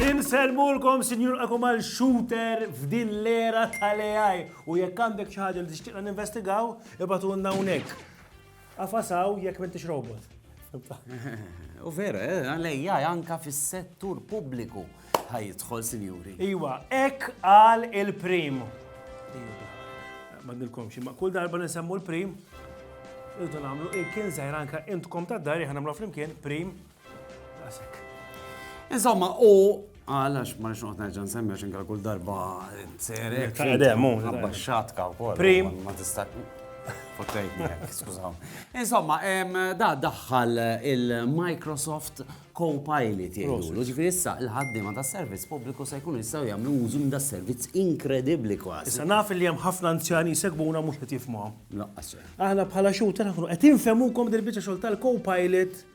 Inselmulkom, sinjur għakum għal shooter f'din l-era tal-AI. U jekk għandek xi ħaġa li tixtieqna ninvestigaw, ibatu għandna unek. Qafas hawn jekk m'intix robot. U vera, eh, għalejja anka fis-settur pubbliku ħajidħol, sinjuri. Iwa, ek għal il-prim. Ma nilkomx, ma kull darba nisemmu l-prim, irridu nagħmlu il-kien zaħir anka intkom ta' dar jħan nagħmlu flimkien prim Insomma, u għal għax ma nix noqgħod nerġa' nsemmi għax inkal kull darba tseri. Taqdem, hu. Għabba xatka wkoll. Prim. Ma tista' Fottejtni, skużaw. Insomma, da daħħal il-Microsoft Copilot jgħidulu. Ġifieri issa il-ħaddiema ta' servizz pubbliku se jkunu jistgħu jagħmlu użu minn da' servizz inkredibbli kważi. Issa naf li hemm ħafna anzjani segbuna mhux qed jifhmuhom. Laqqas. Aħna bħala xuta naħnu qed infemukom dil-biċċa xogħol tal-Copilot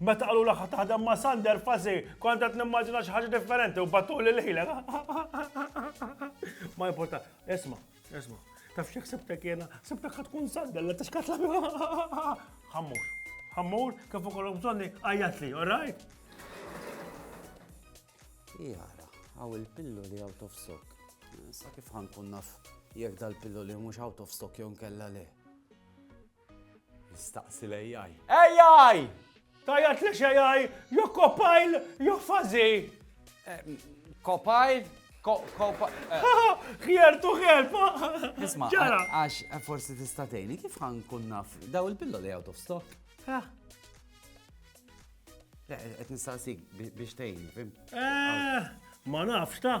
Meta qalulha ħa taħdem ma' Sander Fasi, kont qed nimmaġina xi ħaġa differenti u batuli lejlek. Ma importa, isma, isma. Taf xi ħsibtek jiena, ħsibtek ħad tkun Sander li tixkat la. Ħammur, ħammur, kif ukoll bżonni għajjat li, all right? Jara, għaw il-pillu li out of stock. Sa kif ħankun naf jekk dal-pillu li mhux out of stock jew kella le. Staqsi l-AI. AI! Tgħajjat li x'AI? Jew kopajl jew fażi! Kopajl? Here to help! Isma, għax forsi tista' tgħinni kif ħan kun naf daw il-pillo li out of stock? Qed nistaqsik biex tgħinni, fim? Ma nafx ta'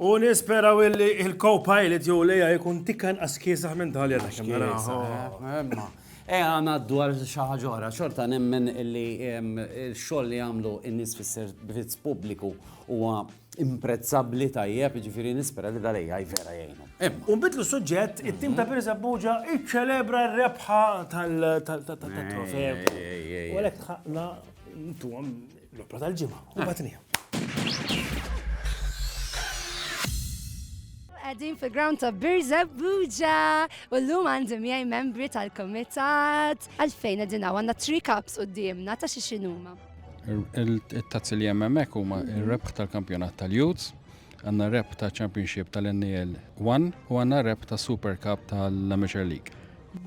U nisperaw illi il-co-pilot jew lejja jkun tikkan askisa minn tal jena kemm naraw. E għana dwar xaħġora, xorta nemmen illi il-xoll li għamlu in-nis fis-servizz pubbliku huwa imprezzabli tajjeb, ġifiri nispera li dalej għaj vera jgħinu. Unbidlu suġġett, it-tim ta' Pirza Buġa iċċelebra r-rebħa tal-trofew. U għalek ħakna Ntuhom l-opra tal-ġimgħa u batnija. Għadin fi ground ta' Birza Buja u l-lum għandi miegħi membri tal-komitat. Għalfejn għadin għanna 3 cups u d-dimna ta' xi xinuma. Il-tazzi li jemmemek huma il-rebħ tal-kampjonat tal-Youths, għanna rep ta' Championship tal-NEL 1 u għanna rep ta' Super Cup tal-Amateur League.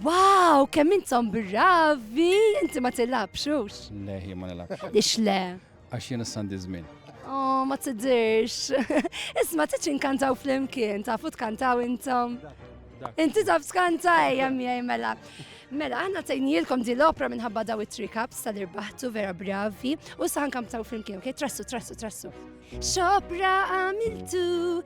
Wow, kemm intom bravi! Inti ma tilabx, ux? Le, jien ma nilabx. Ix le? Għax jien s-sandi żmien. Oh, ma tidirx. Isma tiċ inkantaw fl-imkien, tafu tkantaw intom. Inti taf skanta ejja miegħi mela. Mela, għanna tajnilkom di l-opra minħabba daw it-tri kaps tal-irbaħtu vera bravi u saħan kam taw flimkien, ok? Trassu, trassu, trassu. Xopra għamiltu,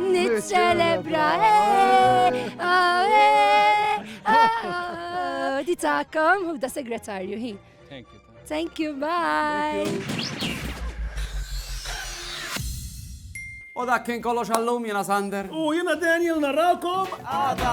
Niċċelebra Di takom u da segretarju hi. Thank you. Thank you, bye. U dak kien kollox għallum jena Sander. U jena Daniel narrakom għada.